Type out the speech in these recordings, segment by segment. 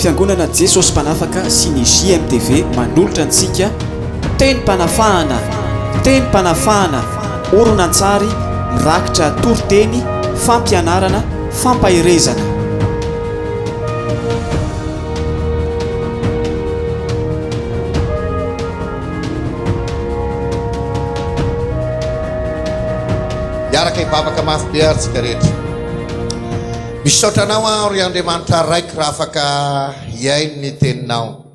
Fiangonana Jesosy Mpanafaka sy ny JMTV manolotra antsika Tenim-panafahana, Tenim-panafahana, horonantsary mirakitra toriteny, fampianarana, fampaherezana. Hiaraka hivavaka mafy be ary isika rehetra. Misaotra anao aho ry Andriamanitra Raiko raha afaka hihaino ny teninao.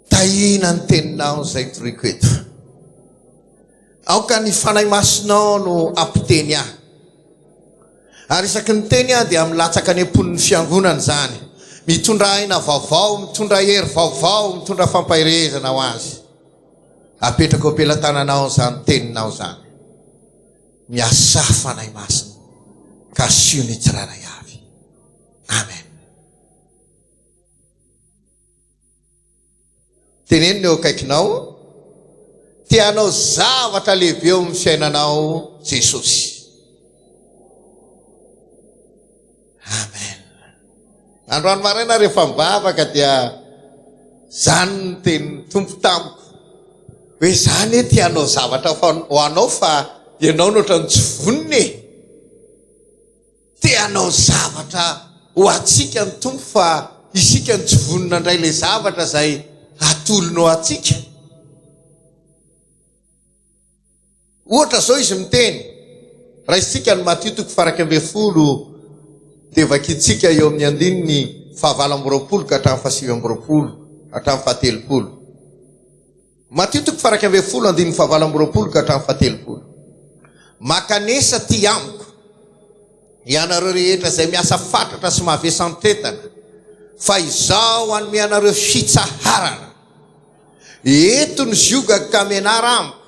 Tahiana ny teninao izay toriko eto. Aoka ny fanahy masinao no ampiteny ahy. Ary isaky ny teny aho dia milatsaka any am-pon'ny fiangonana izany. Mitondra aina vaovao, mitondra hery vaovao, mitondra fampaherezana ho azy. Apetrako am-pelatananao izany teninao izany. Miasà Fanahy Masina kasihio ny tsirairay avy. Amen. Teneno ny eo akaikinao, te hanao zavatra lehibe eo amin'ny fiainanao Jesosy. Amen. Androany maraina rehefa mivavaka dia zany ny tenin'ny Tompo tamiko. Hoe zany e te hanao zavatra ho anao fa ianao no ohatran'ny tsy vonona e. Te hanao zavatra ho antsika ny Tompo fa isika no tsy vonona indray le zavatra izay atolony ho antsika. Ohatra izao izy miteny, raisintsika ny Matio toko faha iraika ambin'ny folo dia vakintsika eo amin'ny andininy faha valo amby roapolo ka hatramin'ny faha sivy amby roapolo hatramin'ny faha telopolo. Matio toko faha iraika ambin'ny folo andininy faha valo amby roapolo ka hatramin'ny faha telopolo. Makanesa aty amiko, ianareo rehetra izay miasa fatratra sy mavesantretana, fa izaho hanome anareo fitsaharana. Eto ny ziogako ka menara amiko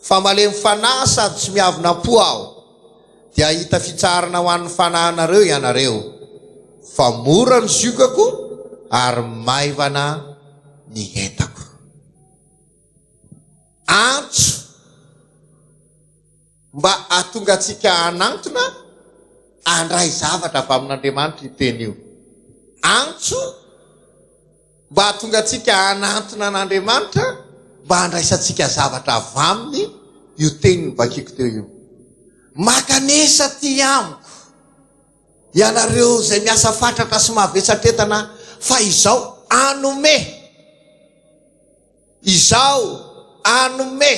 fa malemy fanahy sady tsy miavona po aho dia hahita fitsaharana ho an'ny fanahinareo ianareo fa mora ny ziogako ary maivana ny entako. Antso mba hahatonga antsika hanantona handray zavatra avy amin'Andriamanitra io teny io. Antso. mba hahatonga antsika hanantona an'Andriamanitra mba handraisantsika zavatra avy Aminy io teny novakiako teo io. Makanesa aty amiko, ianareo izay miasa fatratra sy mavesatretana, fa Izaho hanome. Izaho hanome.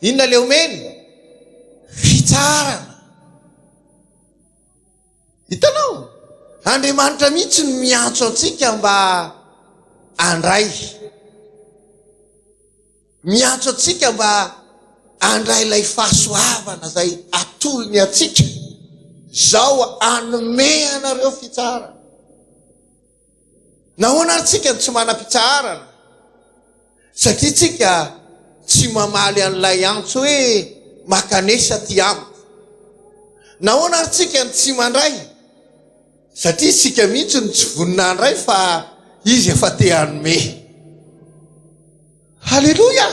Inona ilay omeny? Fitsarana. Hitanao? Andriamanitra mihitsy no miantso antsika mba handray. Miantso antsika mba handray ilay fahasoavana izay atolony antsika. Izao hanome anareo fitsarana. Nahoana ary tsika no tsy manam-pitsaharana? Satria tsika tsy mamaly an'ilay antso hoe makanesa aty amiko. Nahoana ary tsika no tsy mandray? Satria tsika mihitsy no tsy vonona handray fa Izy efa te hanome. Haleloia!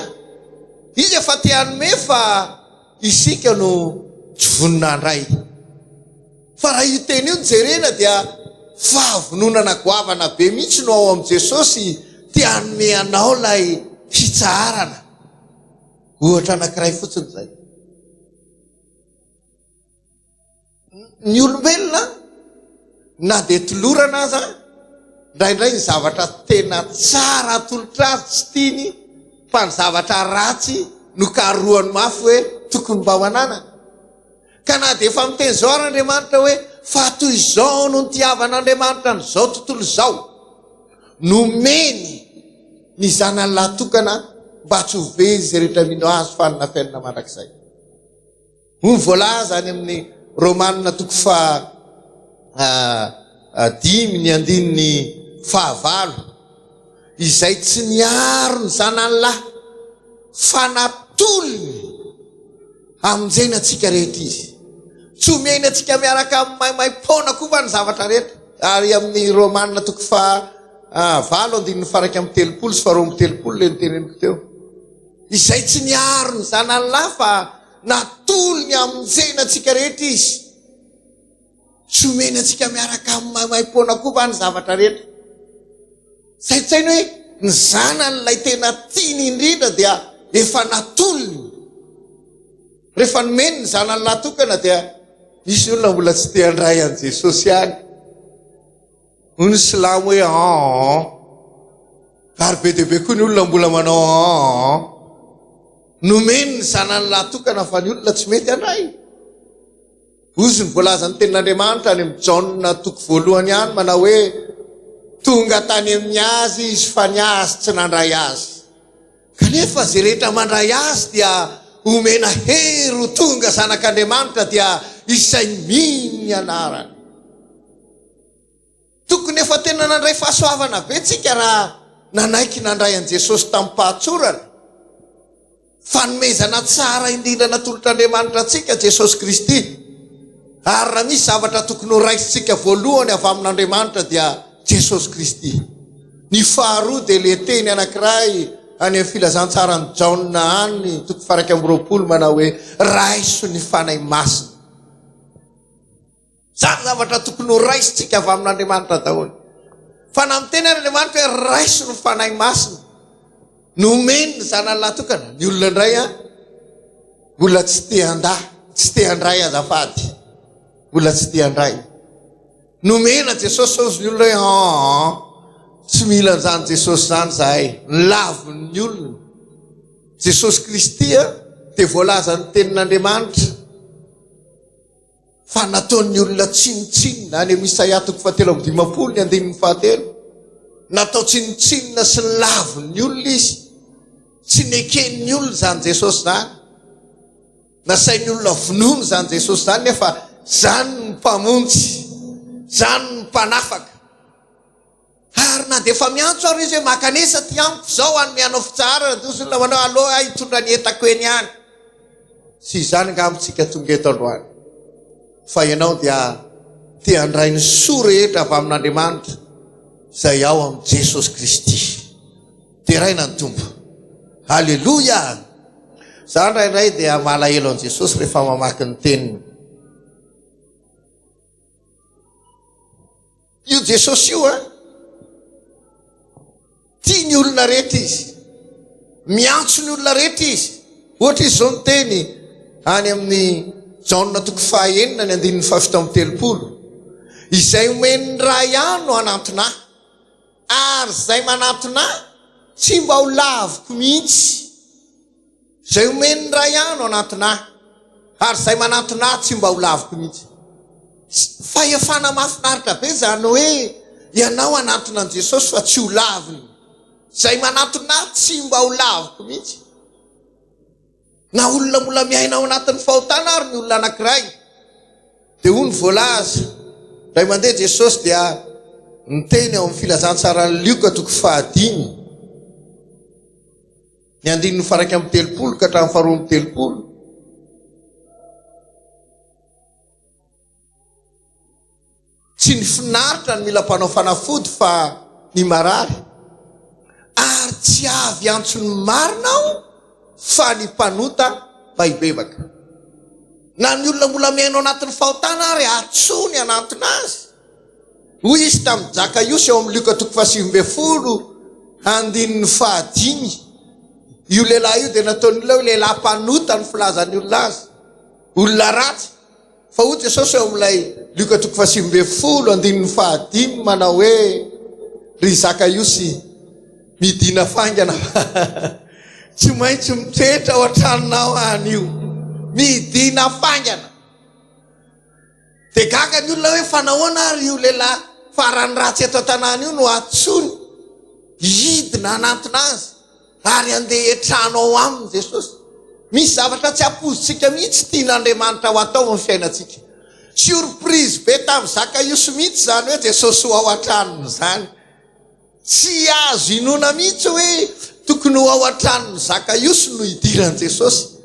Izy efa te hanome fa isika no tsy vonona handray. Fa raha io teny io no jerena dia fahavononana goavana be mihitsy no ao amin'i Jesosy te hanome anao ilay fitsaharana. Ohatra anankiray fotsiny izay. Ny olombelona na dia tolorana aza indraindray ny zavatra tena tsara atolotra azy tsy tiany fa ny zavatra ratsy no karohany mafy hoe tokony mba ho ananany ka na dia efa miteny izao ary andriamanitra hoe fa toy izao no ny tiavan'andriamanitra nyizao tontolo izao nomeny ny zanany lahtokana mba tsy ho veny izay rehetra mino azy fa nina fiainana mandrakizay Hoy ny voalaza any amin'ny Romana toko faha dimy ny andininy faha valo, Izay tsy miaro ny zanany lahy, fa natolony hamonjena antsika rehetra izy. Tsy omeny antsika miaraka amin'ny maimaim-poana koa va ny zavatra rehetra? Ary amin'ny Romana toko faha valo andininy faha iraika amby telopolo sy faha roa amby telopolo ilay noteneniko teo. Izay tsy miaro ny zanany lahy fa. Natolo ny hamonjena antsika rehetra izy. Tsy omeny antsika miaraka amin'ny maimaim-poana koa va ny zavatra rehetra? Saintsaino hoe ny zanany ilay tena tiany indrindra dia efa natolony. Rehefa nomeny ny zanany lahatokana dia misy olona mbola tsy te handray an'i Jesosy ihany. Hoy ny silamo hoe an-an-an. Ary be dia be koa ny olona mbola manao an-an-an. Nomeny ny zanany lahy tokana fa ny olona tsy mety handray. Hozy ny voalazan'ny tenin'Andriamanitra any amin'ny Jaona toko voalohany any manao hoe tonga tany amin'ny azy izy fa ny azy tsy nandray azy. Kanefa izay rehetra mandray azy dia homena hery ho tonga zanak'Andriamanitra dia izay mino ny anarany. Tokony efa tena nandray fahasoavana be tsika raha nanaiky nandray an'i Jesosy tamim-pahatsorana. Fanomezana tsara indrindra natolotr'Andriamanitra antsika Jesosy Kristy. Ary raha misy zavatra tokony ho raisintsika voalohany avy amin'Andriamanitra dia Jesosy Kristy. Ny faharoa dia le teny anankiray any amin'ny filazantsaran'i Jaona any toko faha-iraika amby roapolo manao hoe raiso ny Fanahy Masina. Izany zavatra tokony ho raisintsika avy amin'Andriamanitra daholo. Fa na miteny ary Andriamanitra hoe raiso ny Fanahy Masina nomeny ny zanany lahatokana, ny olona indray a mbola tsy te handà, tsy te handray azafady, mbola tsy te handray. Nomena Jesosy ozy ny olona hoe aa tsy mila an'izany Jesosy izany zahay, ny lavin'ny olona. Jesosy Kristy a dia voalazan'ny tenin'Andriamanitra. fa nataon'ny olona tsinontsinona any amin'ny Isaia toko fahatelo amby dimampolo ny andininy fahatelo. Natao tsinontsinona sy lavin'ny olona izy. Tsy neken'ny olona izany Jesosy izany. Nasain'ny olona vonoana izany Jesosy izany nefa izany ny mpamonjy, izany ny mpanafaka. Ary na dia efa miantso ary izy hoe makanesa aty amiko izao hanome anao fitsaharana dia hozy ny namanao aleo aho hitondra ny entako eny ihany. Tsy izany angamba isika tonga eto androany fa ianao dia te handray ny soa rehetra avy amin'Andriamanitra izay ao amin'i Jesosy Kristy. Deraina ny Tompo. Aleloia! Za indraindray dia malahelo an'i Jesosy rehefa mamaky ny teniny. Io Jesosy io a tia ny olona rehetra izy miantso ny olona rehetra izy ohatra izy zao ny teny any amin'ny jaona toko fahaenina ny andininy fahafito amin'ny telopolo izay omen'ny ray ahy no anantona ary zay manantona tsy mba ho laviko mihitsy Izay omen'ny Ray Ahy no anantona Ahy, ary izay manantona Ahy tsy mba ho laviko mihitsy. Fahefana mahafinaritra be izany hoe ianao hanantona an'i Jesosy fa tsy ho laviny. Izay manantona Ahy tsy mba ho laviko mihitsy. Na olona mbola miaina ao anatin'ny fahotana ary ny olona anankiray, dia hoy ny voalaza, indray mandeha Jesosy dia niteny ao amin'ny filazantsaran'i Lioka toko fahadimy, Ny andininy faraika amby telopolo ka hatramin'ny faharoa amby telopolo. Tsy ny finaritra ny mila mpanao fanafody fa ny marary. Ary tsy avy antsony marina aho fa ny mpanota mba hibebaka. Na ny olona mbola mihaino anatin'ny fahotana ary atsony anantona azy. Hoy izy tamin'i Jakaiosy ao amin'ny Lioka toko fahasivy ambin'ny folo andininy fahadimy, Io lehilahy io dia nataon'ny olona hoe lehilahy mpanota ny filazan'ny olona azy, olona ratsy. Fa hoy Jesosy ao amin'ilay Lioka toko fahasivy ambin'ny folo andininy fahadimy manao hoe, Ry Zakaiosy, midina faingana fa tsy maintsy mitoetra ao an-tranonao aho anio. Midina faingana. Dia gaga ny olona hoe fa nahoana ary io lehilahy farany ratsy eto an-tanàna io no antsoiny hidina hanantona azy ary handeha hiantrano ao aminy Jesosy. Misy zavatra tsy ampoizintsika mihitsy tian'Andriamanitra ho atao amin'ny fiainantsika. Surprise be tamin'i Zakaiosy mihitsy izany hoe Jesosy ho ao an-tranony izany. Tsy azo inoana mihitsy hoe tokony ho ao an-tranon'i Zakaiosy no hidiran'i Jesosy.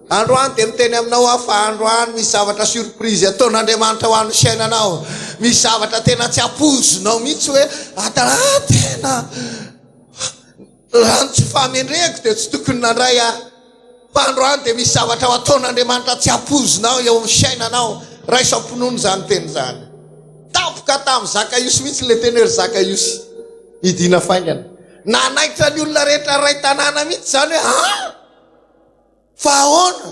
Androany dia miteny aminao aho fa androany misy zavatra surprise ataon'Andriamanitra ho an'ny fiainanao. Misy zavatra tena tsy ampoizinao mihitsy hoe raha tena rantso fahamendrehako dia tsy tokony nandray aho. Fa androany dia misy zavatra ho ataon'Andriamanitra tsy hampoizinao eo amin'ny fiainanao. Raiso am-pinoana izany teny izany. Tampoka tamin'i Zakaiosy mihitsy ilay teny hoe ry Zakaiosy, hidiana faingana. Nanaitra ny olona rehetra iray tanàna mihitsy izany hoe, Ha? Fa ahoana?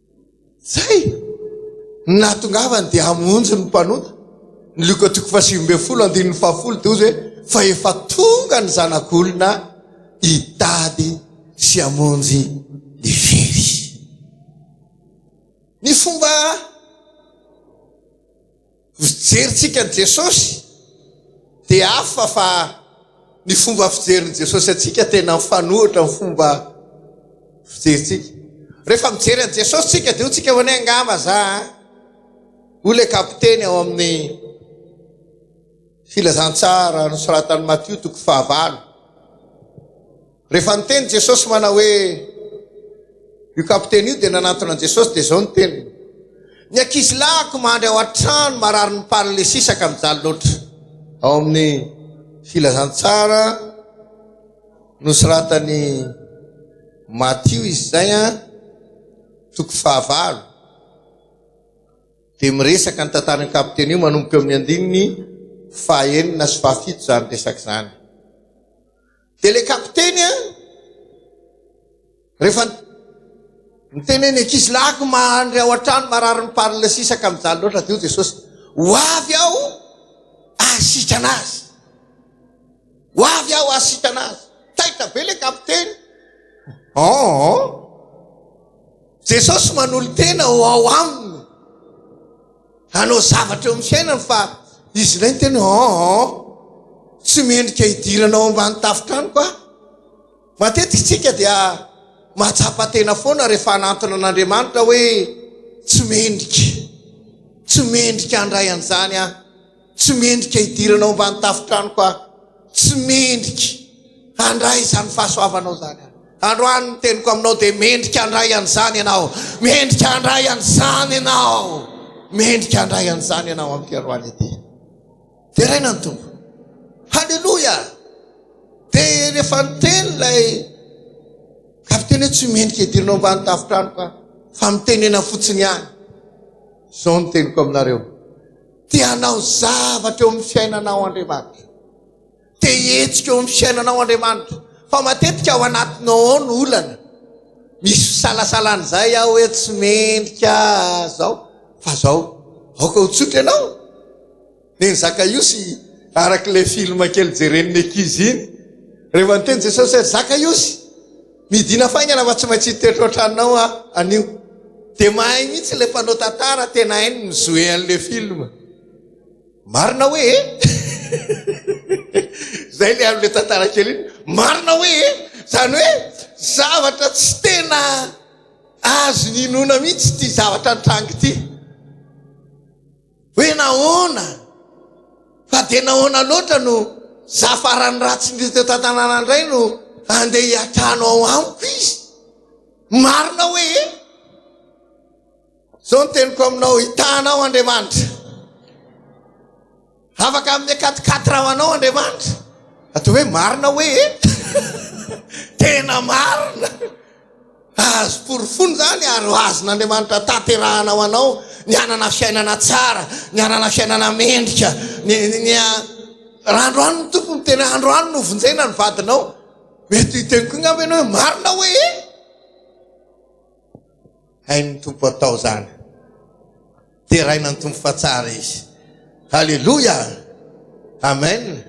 Zay! Ny nahatongavany dia hamonjy ny mpanota. Ny Lioka toko fahasivy ambin'ny folo andininy fahafolo dia hozy hoe, Fa efa tonga ny Zanak'olona hitady sy hamonjy ny very. Ny fomba. Ny fijerintsika an'i Jesosy dia hafa fa ny fomba fijerin'i Jesosy antsika tena mifanohitra amin'ny fomba fijerintsika. Rehefa mijery an'i Jesosy tsika dia hotsika hoe angamba za hoy ilay kapiteny ao amin'ny filazantsara nosoratan'i Matio toko fahavalo. Rehefa niteny Jesosy manao hoe, Io kapiteny io dia nanantona an'i Jesosy dia izao ny teniny, Ny ankizilahiko mandry ao an-trano marary ny paralysisa ka mijaly loatra. Ao amin'ny Filazantsara nosoratan'i Matio izy izay, toko fahavalo, dia miresaka ny tantaran'io kapiteny io manomboka eo amin'ny andininy fahenina sy fahafito izany resaka izany. Dia ilay kapiteny a, rehefa niteny ny ankizy lahiko mandry ao an-trano marary ny parle sisa ka mijaly loatra dia hoy Jesosy, ho avy aho hahasitrana azy. Ho avy aho hahasitrana azy. Taitra be ilay kapiteny. Oh, Jesosy manolo-tena ho ao aminy. Hanao zavatra eo amin'ny fiainany fa izy indray niteny hoe an an, tsy mendrika hidirana ao ambany tafon-tranoko aho. Matetika isika dia mahatsapa tena foana rehefa hanantona an'Andriamanitra hoe tsy mendrika, tsy mendrika handray an'izany aho. Tsy mendrika hidirana ao ambany tafotranoko aho. Tsy mendrika handray izany fahasoavanao izany aho. Androany ny teniko aminao dia mendrika handray an'izany ianao. Mendrika handray an'izany ianao. Mendrika handray an'izany ianao amin'ity androany ity. Deraina ny Tompo. Haleloia! Dia rehefa niteny ilay kapiteny hoe tsy mendrika hidirana ao ambany tafotranoko aho fa mitenena fotsiny ihany. Izao ny teniko aminareo. Te hanao zavatra eo amin'ny fiainanao Andriamanitra. Te hihetsika eo amin'ny fiainanao Andriamanitra. Fa matetika ao anatinao ao no olana. Misy fisalasalana izay aho hoe tsy mendrika zao. Fa zao, aoka ho tsotra ianao. Neny Zakaiosy, araka ilay film kely jeren'ny ankizy iny. Rehefa niteny Jesosy hoe Zakaiosy, Midina faingana fa tsy maintsy hitoetra ohatranao aho anio. Dia mahay mihitsy ilay mpanao tantara, tena hainy ny jouer an'ilay film. Marina hoe e? Zay ilay amin'ilay tantara kely iny. Marina hoe e? Zany hoe zavatra tsy tena azon'inoana mihitsy ity zavatra nitranga ity. Hoe nahoana? Fa dia nahoana loatra no za farany ratsy indrindra teto an-tanàna indray no andeha hiatrano ao amiko izy? Marina hoe e? Zao ny teniko aminao, hitanao Andriamanitra. Afaka amin'ny akatikaty raha manao Andriamanitra. Atao hoe marina hoe e? Tena marina. Mba azo porofoina izany ary ho azon'Andriamanitra tanterahana ho anao ny hanana fiainana tsara, ny hanana fiainana mendrika, ny, ny, ny raha androany ny tompo ny tena androany no vonjena ny vadinao mety hiteny koa ngamba ianao hoe marina hoe e hain'ny tompo atao zany Deraina ny Tompo fa tsara izy. Haleloia! Amen!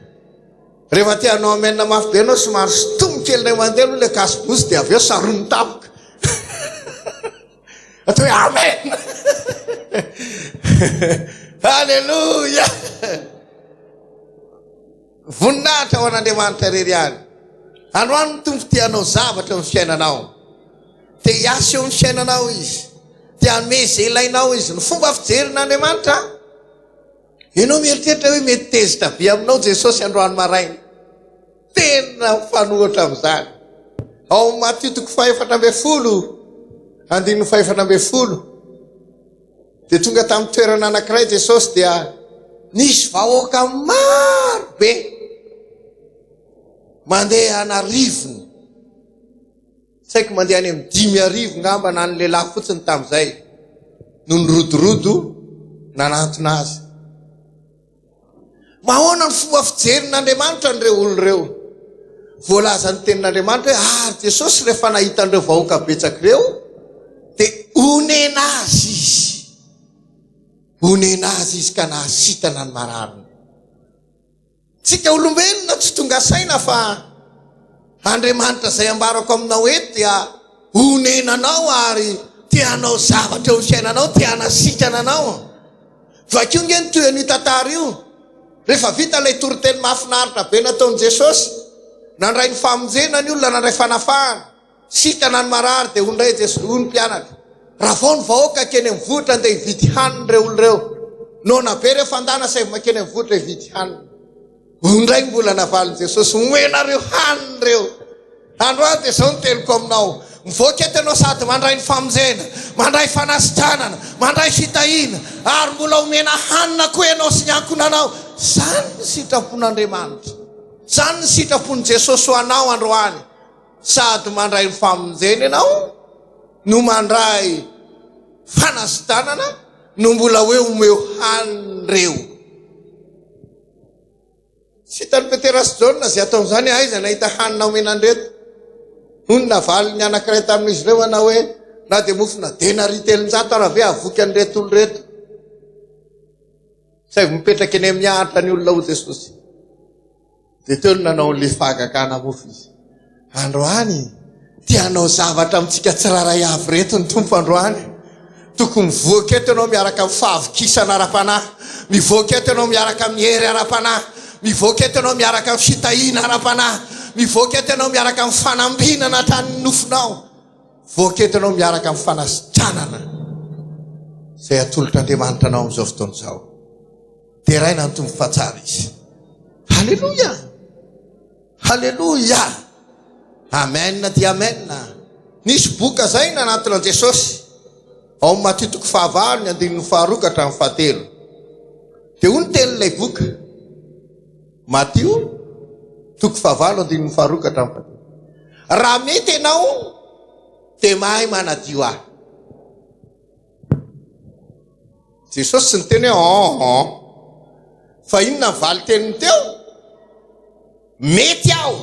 Rehefa te hanao amen mafy be ianao somary sintomy kely indray mandeha aloha ilay gasybozy dia avy eo saron'ny tampoka. Atao hoe amen! Haleloia! Voninahitra ho an'Andriamanitra irery ihany. Androany ny Tompo te hanao zavatra eo amin'ny fiainanao. Te hiasa eo amin'ny fiainanao Izy. Te hanome izay ilainao Izy. Ny fomba fijerin'Andriamanitra, ianao mieritreritra hoe mety tezitra be aminao Jesosy androany maraina. Tena mifanohitra amin'izany. Ao amin'ny Matio toko fahefatra ambin'ny folo, andininy fahefatra ambin'ny folo. Dia tonga tamin'ny toerana anankiray Jesosy dia nisy vahoaka maro be mandeha an'arivony. Saiko mandeha any amin'ny dimy arivo ngamba na ny lehilahy fotsiny tamin'izay no nirodorodo nanantona azy. Mahoana ny fomba fijerin'Andriamanitra an'ireo olona ireo? Voalazan'ny Tenin'Andriamanitra hoe, Ary Jesosy, rehefa nahita an'ireo vahoaka betsaka ireo, dia onena azy izy. Onena azy izy ka nahasitana ny marariny. Tsika olombelona tsy tonga saina fa Andriamanitra izay ambarako aminao eto dia onenanao ary te hanao zavatra eo fiainanao, te hanasikana anao. Vakio nge ny toy ny tantara io. Rehefa vita ilay toriteny mahafinaritra be nataon'i Jesosy, nandray ny famonjena ny olona, nandray fanafahana, sitana ny marary dia hoy indray Jesosy, hoy ny mpianatra, ravao ny vahoaka akeny amin'ny vohitra andeha hividy hanina ireo olona ireo. Noana be ireo fandana saivo makeny amin'ny vohitra hividy hanina. Hoy indray ny mbola navalin'i Jesosy, Omenareo hanina ireo. Andro aho dia izao ny teniko aminao, mivoaka eto ianao sady mandray ny famonjena, mandray fanasitranana, mandray fitahiana, ary mbola omena hanina koa ianao sy ny ankohonanao. Izany ny sitrapon'Andriamanitra. Izany ny sitrapon'i Jesosy ho anao androany. Sady mandray ny famonjena ianao, no mandray fanasitranana, no mbola hoe omeo hanina ireo. Tsy hitan'i Petera sy Jaona izay ataon'izany, Aiza nahita hanina omena an'ireto? Hoy ny navalin'ny anankiray tamin'izy ireo, Hanao hoe, Na dia mofona denari telonjato ara ve hahavoky an'ireto olona ireto? Saingy mipetraka eny amin'ny ahitra ny olona ho Jesosy. Dia teo no nanao an'ilay fahagagana mofo izy. Androany te hanao zavatra amintsika tsirairay avy ireto ny Tompo androany. Tokony mivoaka eto ianao miaraka amin'ny fahavokisana ara-panahy. Mivoaka eto ianao miaraka amin'ny hery ara-panahy. Mivoaka eto ianao miaraka amin'ny fitahiana ara-panahy. Mivoaka eto ianao miaraka amin'ny fanambinana hatranin'ny nofonao. Mivoaka eto ianao miaraka amin'ny fanasitranana izay atolotr'Andriamanitra anao amin'izao fotoana izao. Deraina ny Tompo fa tsara izy. Haleloia! Haleloia! Amen dia amen! Nisy boky kazaina anatona an'i Jesosy ao amin'ny Matio toko fahavalo ny andininy faharoa ka hatramin'ny fahatelo. Dia hoy ny tenin'ilay boky, Matio toko fahavalo andininy faharoa ka hatramin'ny fahatelo. Raha mety ianao dia mahay manadio ahy. Jesosy tsy niteny hoe an an. Fa inona ny valin-teniny teo? Mety aho.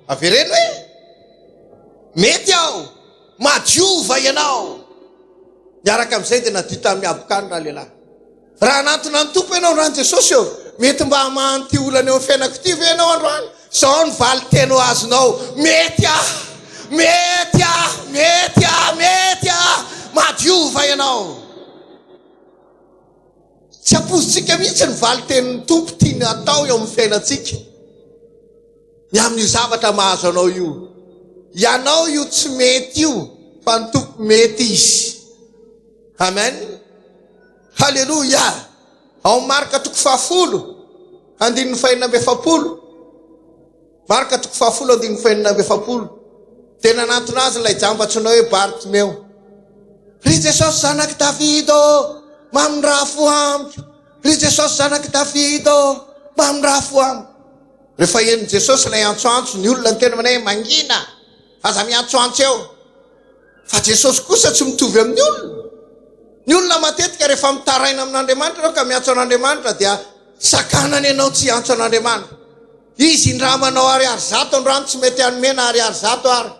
Avereno hoe mety aho. Madiova ianao. Miaraka amin'izay dia nadio tamin'ny habokany ralehilahy. Raha hanantona ny Tompo ianao, androany Jesosy ô, mety mba hamaha an'ity olana eo amin'ny fiainako ity ve ianao androany? Izao ny valin-teny ho azonao, Mety aho! Mety aho! Mety aho! Mety aho! Mahadiova ianao! Tsy ampoizintsika mihitsy ny valin-tenin'ny Tompo tiany hatao eo amin'ny fiainantsika. Ny amin'io zavatra mahazo anao io. Ianao io tsy mety io, fa ny Tompo mety Izy. Amen. Haleloia! Ao Marka toko fahafolo, andininy fahenina amby efapolo. Marka toko fahafolo, andininy fahenina amby efapolo. Dia nanantona azy ilay jamba antsoina hoe Bartimeo. Ry Jesosy zanak'i Davida ô, mamindrafo amiko. Ry Jesosy zanak'i Davida ô, mamindrafo amiko. Rehefa henon'i Jesosy ilay antsoantso, ny olona niteny hoe mangina. Aza miantsoantso eo fa Jesosy kosa tsy mitovy amin'ny olona. Ny olona matetika rehefa mitaraina amin'Andriamanitra ianao ka miantso an'Andriamanitra dia sakanany ianao tsy hiantso an'Andriamanitra. Izy indrama anao ariary zato androany tsy mety hanome na ariary zato ary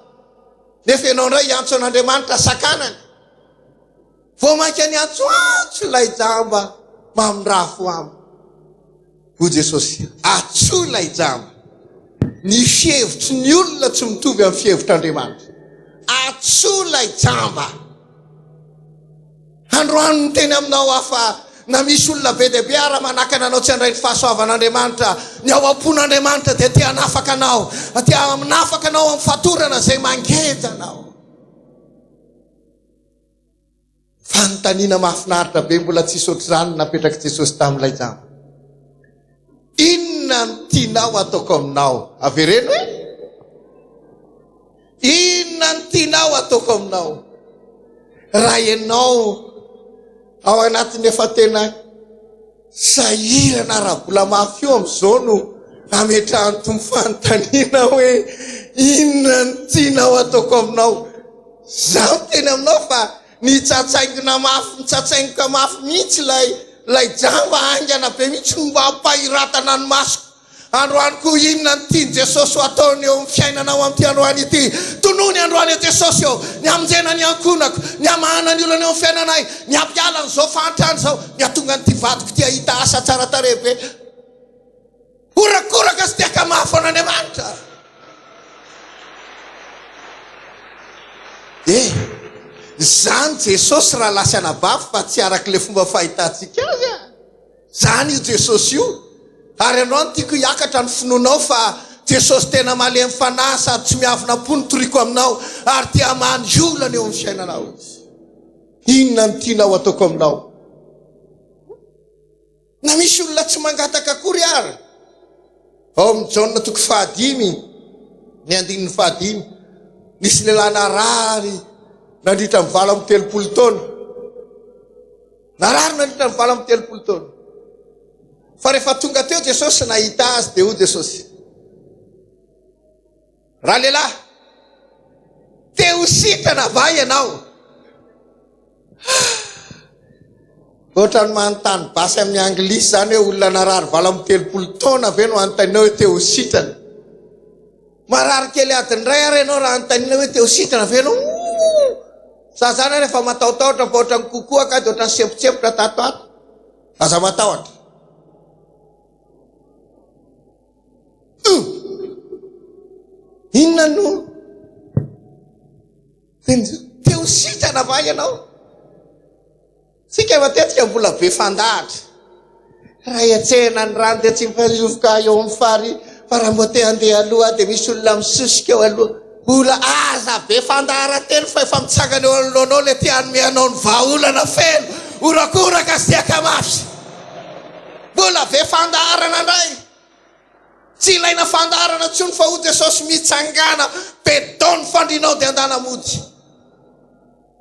nefa ianao indray hiantso an'Andriamanitra sakanany. Vao mainka niantsoantso ilay jamba mamindrafo aminy. Hoy Jesosy, Atsoy ilay jamba. Ny fihevitry ny olona tsy mitovy amin'ny fihevitr'Andriamanitra. Atsoy ilay jamba. Androany niteny aminao aho fa na misy olona be dia be ara manakana anao tsy handray ny fahasoavan'Andriamanitra, ny ao am-pon'Andriamanitra dia te hanafaka anao, te hanafaka anao amin'ny fatorana izay mangeja anao. Fanontaniana mahafinaritra be mbola tsy nisy ohatr'izany no napetrak'i Jesosy tamin'ilay jamba. Inona no tianao hataoko aminao? Avereno e! Inona no tianao hataoko aminao? Raha ianao ao anatin'ny efa tena Tsy sahirana ara-bola mafy io amin'izao no nametrahan'ny Tompo fanontaniana hoe, Inona no tianao ataoko aminao? Izaho miteny aminao fa nitsatsaingona mafy nitsatsaingoka mafy mihitsy ilay ilay jamba haingana be mihitsy no mampahiratana ny masoko. Androany koa inona no tian'i Jesosy ho ataony eo amin'ny fiainanao amin'ity androany ity? Tonony androany eo Jesosy ô! Ny hamonjena ny ankohonako, ny hamahana ny olana eo amin'ny fiainanay, ny hampiala an'izao fahantrana izao, ny hahatonga an'ity vadiko ity hahita asa tsara tarehy be horakoraka sy te-hakamafy an'Andriamanitra. E! Izany Jesosy raha lahy sy anabavy fa tsy arak'ilay fomba fahitantsika azy a! Zany io Jesosy io ary anao no tiako hiakatra ny finoanao fa Jesosy tena malemy fanahy sady tsy miavona am-po no toriako aminao ary te hamaha ny olana eo amin'ny fiainanao Izy. Inona no tianao hataoko aminao? Na misy olona tsy mangataka akory ary. Ao amin'ny Jaona toko fahadimy, ny andininy fahadimy, nisy lehilahy narary nandritra ny valo amby telopolo taona. Narary nandritra ny valo amby telopolo taona. Fa rehefa tonga teo Jesosy nahita azy dia hoy Jesosy, Ralehilahy, te ho sitrana va ianao? Ohatrany manontany basy amin'ny anglisy izany hoe olona narary valo amby telopolo taona ve no anontaninao hoe te ho sitrana? Marary kely adiny iray ary ianao raha anontaniana hoe te ho sitrana ve ianao? Ooh! Za zany ary efa matahotahotra fa ohatran'ny kokoa kady ohatran'ny sempotsempotra tato ato. Aza matahotra. Ooh! Inona no te ho sitrana va ianao? Tsika matetika mbola be fandahatra. Raha hiantsehana ny rano dia tsy mifazovoka eo amin'ny fary fa raha mboa te handeha aloha dia misy olona misosika eo aloha. Mbola aza be fandaharan-teny fa efa mitsangana eo anoloanao ilay te hanome anao ny vahaolana feno horakoraka sy tiaka mafy. Mbola be fandaharana indray. Tsy ilaina fandaharana intsony fa hoy Jesosy mitsangana be dao ny fandrinao dia handana mody.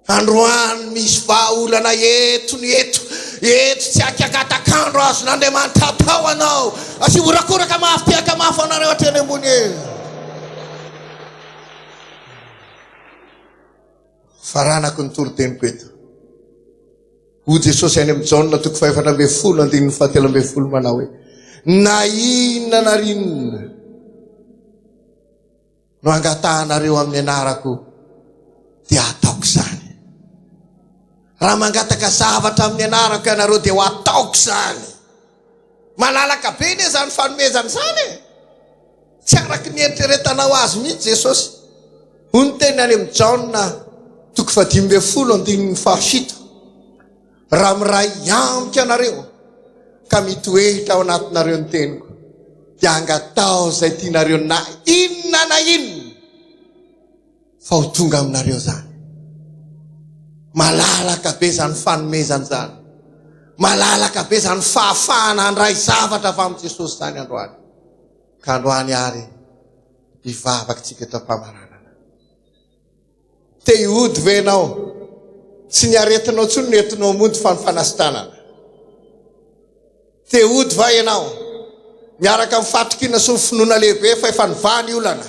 Androany misy vahaolana eto ny eto eto tsy akakatak'andro azon'Andriamanitra atao anao sy horakoraka mafy tehaka mafy anareo aty any ambony e faranako ny toroteniko eto ho Jesosy any amin'ny Jaona toko fahefatra ambin'ny folo andininy fahatelo ambin'ny folo manao hoe na inona na inona no angatahanareo amin'ny anarako dia hataoko izany. Raha mangataka zavatra amin'ny anarako ianareo dia ho ataoko izany. Malalaka be ne izany fanomezana izany e. Tsy araka ny eritreretanao azy mihitsy Jesosy. Hoy ny teny any amin'ny Jaona toko fahadimy ambin'ny folo andininy fahafito. Raha miray amiko ianareo ka mitoetra ao anatinareo ny teniko, dia angatao izay tianareo na inona na inona fa ho tonga aminareo zany. Malalaka be zany fanomezana zany. Malalaka be zany fahafahana handray zavatra avy amin'i Jesosy zany androany. Ka androany ary hivavaka tsika eto am-pamaranana. Te hody ve ianao? Tsy ny aretinao intsony no entinao mody fa ny fanasitranana. Te hody va ianao? Miaraka amin'ny fahatokiana sy ny finoana lehibe fa efa nivaha ny olana.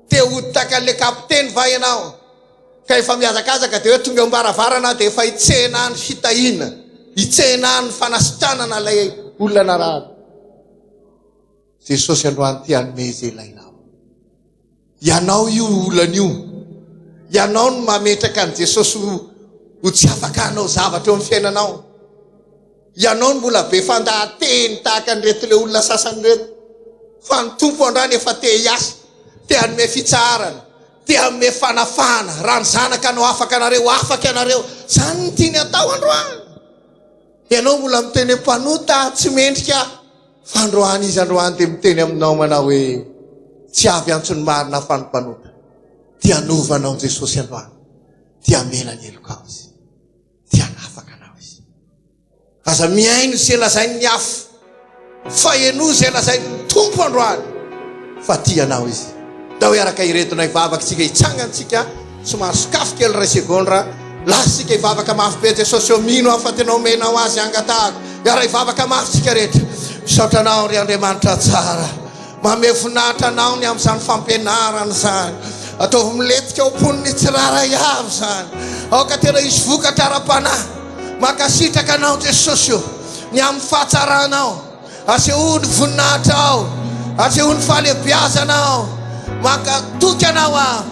Te hody tahaka an'ilay kapiteny va ianao? Ka efa mihazakazaka dia hoe tonga eo am-baravarana aho dia efa hitsena ny fitahiana, hitsena ny fanasitranana ilay olona narary. Jesosy androany te hanome izay ilainao. Ianao io olana io. Ianao no mametraka an'i Jesosy ho ho tsy afaka hanao zavatra eo amin'ny fiainanao. Ianao no mbola be fandahateny tahaka an'ireto ilay olona sasany ireto. Fa ny Tompo andrany efa te hiasa, te hanome fitsaharana, te hanome fanafahana. Raha ny Zanaka no afaka anareo, afaka ianareo. Izany no tiany atao androany. Ianao mbola miteny hoe mpanota tsy mendrika fa androany izy androany dia miteny aminao manao hoe tsy avy antsony marina fa ny mpanota dia hanova anao Jesosy androany dia hamela ny helokao izy dia hanafaka anao izy aza mihaino izay lazain'ny hafa Fa henoy izay lazain'ny Tompo androany fa tia anao Izy. Ndao hiaraka hiredona hivavaka isika, hitsangana isika, somary sokafy kely iray segondra, lasa isika hivavaka mafy be Jesosy ô, mino aho fa tena omenao Azy hangatahako, hiara-hivavaka mafy isika rehetra. Misaotra Anao ry Andriamanitra tsara, Mamehy voninahitra Anao ny amin'izany fampianarana izany. Ataovy milentika ao am-pony ny tsirairay avy izany. Aoka tena hisy vokatra ara-panahy. Mankasitraka Anao Jesosy o, ny amin'ny fahatsaranao. Asehoy ny voninahitrao. Asehoy ny fahalehibiazanao. Mankatoky Anao aho.